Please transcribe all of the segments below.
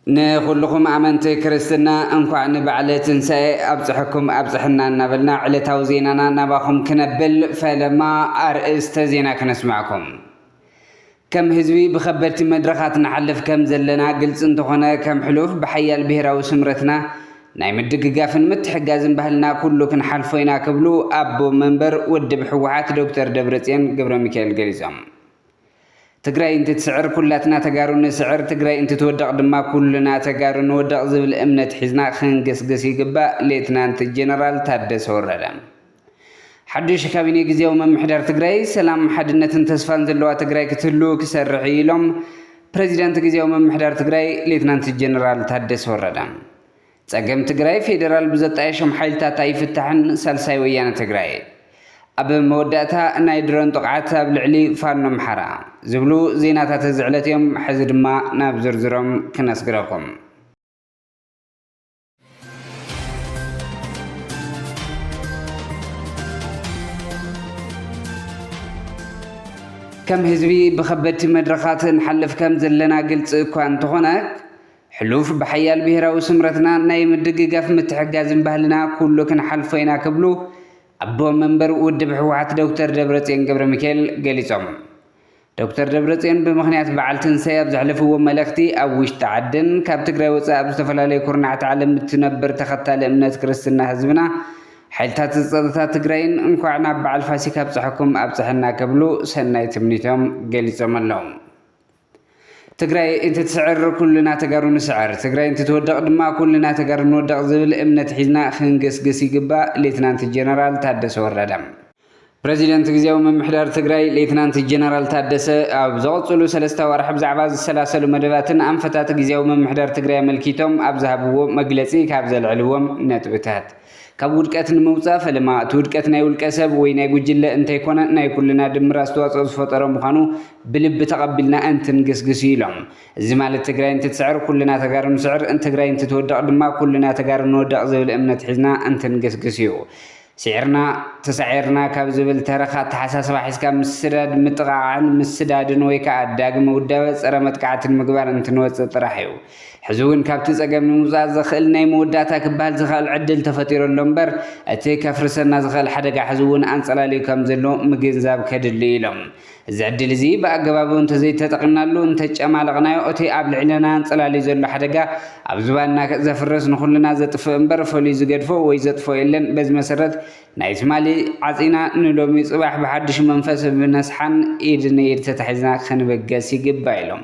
ንኹልኹም ኣመንቲ ክርስትና እንኳዕ ንበዓለ ትንሣኤ ኣብፅሐኩም ኣብፅሐና እናበልና ዕለታዊ ዜናና ናባኹም ክነብል ፈለማ ኣርእስተ ዜና ክነስማዕኩም። ከም ህዝቢ ብኸበድቲ መድረኻት ንሓልፍ ከም ዘለና ግልፂ እንተኾነ ከም ሕሉፍ ብሓያል ብሄራዊ ስምረትና ናይ ምድግጋፍን ምትሕጋዝን ባህልና ኩሉ ክንሓልፎ ኢና ክብሉ ኣቦ መንበር ውድብ ህወሓት ዶክተር ደብረፅዮን ገብረሚካኤል ገሊፆም። ትግራይ እንትትስዕር ኩላትና ተጋሩ ንስዕር፣ ትግራይ እንትትወድቕ ድማ ኩልና ተጋሩ ንወድቕ ዝብል እምነት ሒዝና ክንግስግስ ይግባእ ሌትናንት ጀነራል ታደሰ ወረደ። ሓዱሽ ካቢኔ ግዜያዊ ምምሕዳር ትግራይ ሰላም፣ ሓድነትን ተስፋን ዘለዋ ትግራይ ክትህሉ ክሰርሕ እዩ ኢሎም ፕሬዚዳንት ግዜያዊ ምምሕዳር ትግራይ ሌትናንት ጀነራል ታደሰ ወረደ። ጸገም ትግራይ ፌዴራል ብዘጣየሾም ሓይልታት ኣይፍታሕን ሳልሳይ ወያነ ትግራይ ኣብ መወዳእታ ናይ ድሮን ጥቕዓት ኣብ ልዕሊ ፋኖ ኣምሓራ ዝብሉ ዜናታት እዚ ዕለት እዮም። ሕዚ ድማ ናብ ዝርዝሮም ክነስግረኩም። ከም ህዝቢ ብኸበድቲ መድረኻት ንሓልፍ ከም ዘለና ግልፂ እኳ እንተኾነ ሕሉፍ ብሓያል ብሄራዊ ስምረትና ናይ ምድግጋፍ ምትሕጋዝን ባህልና ኩሉ ክንሓልፎ ኢና ክብሉ ኣቦ መንበር ውድብ ህወሓት ዶክተር ደብረፅዮን ገብረ ሚካኤል ገሊፆም። ዶክተር ደብረፅዮን ብምኽንያት በዓል ትንሳኤ ኣብ ዘሕለፍዎ መልእኽቲ፣ ኣብ ውሽጢ ዓድን ካብ ትግራይ ወፃኢ ኣብ ዝተፈላለዩ ኩርናዓት ዓለም እትነብር ተኸታሊ እምነት ክርስትና ህዝብና ሓይልታት ፀጥታ ትግራይን እንኳዕ ናብ በዓል ፋሲካ ኣብፀሐኩም ኣብፀሐና ክብሉ ሰናይ ትምኒቶም ገሊፆም ኣለው። ትግራይ እንትትስዕር ኩልና ተጋሩ ንስዕር፣ ትግራይ እንትትወድቕ ድማ ኩልና ተጋሩ ንወድቕ ዝብል እምነት ሒዝና ክንግስግስ ይግባእ ሌትናንት ጀነራል ታደሰ ወረደ። ፕረዚደንት ግዜያዊ ምምሕዳር ትግራይ ሌትናንት ጀነራል ታደሰ ኣብ ዘቐፅሉ ሰለስተ ኣዋርሕ ብዛዕባ ዝሰላሰሉ መደባትን ኣንፈታት ግዜያዊ ምምሕዳር ትግራይ ኣመልኪቶም ኣብ ዝሃብዎ መግለፂ ካብ ዘልዕልዎም ነጥብታት ካብ ውድቀት ንምውፃእ ፈለማ እቲ ውድቀት ናይ ውልቀ ሰብ ወይ ናይ ጉጅለ እንተይኮነ ናይ ኩልና ድምር ኣስተዋፅኦ ዝፈጠሮ ምዃኑ ብልቢ ተቐቢልና እንትንግስግስ እዩ ኢሎም። እዚ ማለት ትግራይ እንትትስዕር ኩልና ተጋሩ ንስዕር፣ ትግራይ እንትትወድቕ ድማ ኩልና ተጋሩ ንወድቕ ዝብል እምነት ሒዝና እንትንግስግስ እዩ። ስዒርና ተሳዒርና ካብ ዝብል ተረኽ ኣተሓሳስባ ሒዝካ ምስዳድ፣ ምጥቓዓዕን ምስዳድን ወይ ከኣ ዳግመ ውዳበ ጸረ መጥቃዕቲ ንምግባር እንትንወጽእ ጥራሕ እዩ። ሕዚ እውን ካብቲ ጸገም ንምውጻእ ዘኽእል ናይ መወዳእታ ክበሃል ዝክኣል ዕድል ተፈጢሩ ኣሎ እምበር እቲ ከፍርሰና ዝኽእል ሓደጋ ሕዚ እውን ኣንጸላልዩ ከም ዘሎ ምግንዛብ ከድሊ እዩ ኢሎም እዚ ዕድል እዚ ብኣገባቡ እንተዘይተጠቒምናሉ፣ እንተጨማለቕናዮ፣ እቲ ኣብ ልዕለና ኣንጸላልዩ ዘሎ ሓደጋ ኣብ ዝባንና ዘፍርስ ንኹልና ዘጥፍእ እምበር ፈልዩ ዝገድፎ ወይ ዘጥፍኦ የለን። በዚ መሰረት ናይ ትማሊ ዓጺና ንሎሚ ጽባሕ ብሓድሽ መንፈስ ብነስሓን ኢድ ንኢድ ተታሒዝና ክንብገስ ይግባእ ኢሎም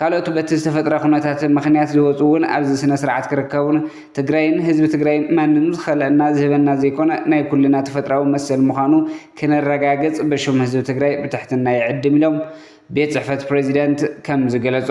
ካልኦት በቲ ዝተፈጥረ ኩነታት ምኽንያት ዝወፁ እውን ኣብዚ ስነስርዓት ክርከቡን ትግራይን ህዝቢ ትግራይን ማንም ዝኸልኣና ዝህበና ዘይኮነ ናይ ኩልና ተፈጥራዊ መሰል ምዃኑ ክነረጋግፅ ብሹም ህዝቢ ትግራይ ብትሕትና ይዕድም ኢሎም ቤት ፅሕፈት ፕሬዚዳንት ከምዝገለፆ።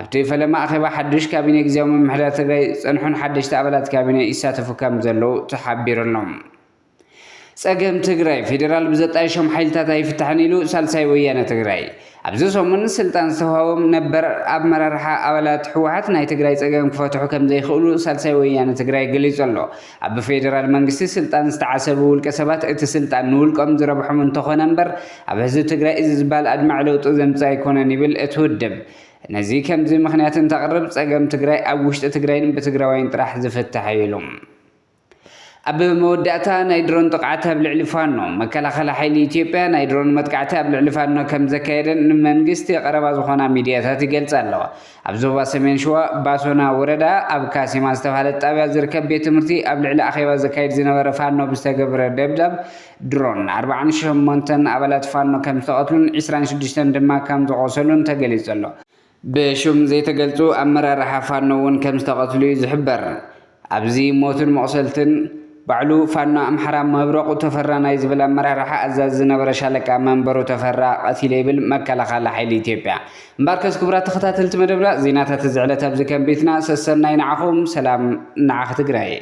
ኣብቲ ፈለማ ኣኼባ ሓዱሽ ካቢኔ ግዝያዊ ምምሕዳር ትግራይ ዝጸንሑን ሓደሽቲ ኣባላት ካቢኔ ይሳተፉ ከም ዘለዉ ተሓቢሩ ኣሎ። ጸገም ትግራይ ፌዴራል ብዘጣየሾም ሓይልታት ኣይፍታሕን ኢሉ ሳልሳይ ወያነ ትግራይ። ኣብዚ ሰሙን ስልጣን ዝተውሃቦም ነበር ኣመራርሓ ኣባላት ህወሓት ናይ ትግራይ ጸገም ክፈትሑ ከም ዘይኽእሉ ሳልሳይ ወያነ ትግራይ ገሊጹ ኣሎ። ኣብ ብፌደራል መንግስቲ ስልጣን ዝተዓሰቡ ውልቀ ሰባት እቲ ስልጣን ንውልቆም ዝረብሖም እንተኾነ እምበር ኣብ ህዝቢ ትግራይ እዚ ዝበሃል ኣድማዒ ለውጢ ዘምፅእ ኣይኮነን ይብል እቲ ውድብ። ነዚ ከምዚ ምኽንያት እንተቕርብ ፀገም ትግራይ ኣብ ውሽጢ ትግራይን ብትግራዋይን ጥራሕ ዝፍታሕ እዩ ኢሉ። ኣብ መወዳእታ ናይ ድሮን ጥቕዓት ኣብ ልዕሊ ፋኖ። መከላኸሊ ሓይሊ ኢትዮጵያ ናይ ድሮን መጥቃዕቲ ኣብ ልዕሊ ፋኖ ከምዘካየደን ንመንግስቲ ቀረባ ዝኾና ሚድያታት ይገልፃ ኣለዋ። ኣብ ዞባ ሰሜን ሽዋ ባሶና ወረዳ ኣብ ካሲማ ዝተብሃለት ጣብያ ዝርከብ ቤት ትምህርቲ ኣብ ልዕሊ ኣኼባ ዘካይድ ዝነበረ ፋኖ ብዝተገብረ ደብዳብ ድሮን ኣርብዓን ሸሞንተን ኣባላት ፋኖ ከም ዝተቐትሉን ዕስራን ሽዱሽተን ድማ ከም ዝቖሰሉን ተገሊጹ ኣሎ። ብሹም ዘይተገልጹ ኣመራርሓ ፋኖ እውን ከም ዝተቐትሉ እዩ ዝሕበር። ኣብዚ ሞትን መቑሰልትን ባዕሉ ፋኖ ኣምሓራ መብረቑ ተፈራ ናይ ዝብል ኣመራርሓ ኣዛዚ ዝነበረ ሻለቃ መንበሩ ተፈራ ቀቲለ ይብል መከላኸሊ ሓይሊ ኢትዮጵያ። እምበኣርከስ ክቡራት ተኸታተልቲ መደብና ዜናታት እዚ ዕለት ኣብዚ ከም ቤትና ሰሰናዩ ንዓኹም ሰላም ንዓኺ ትግራይ።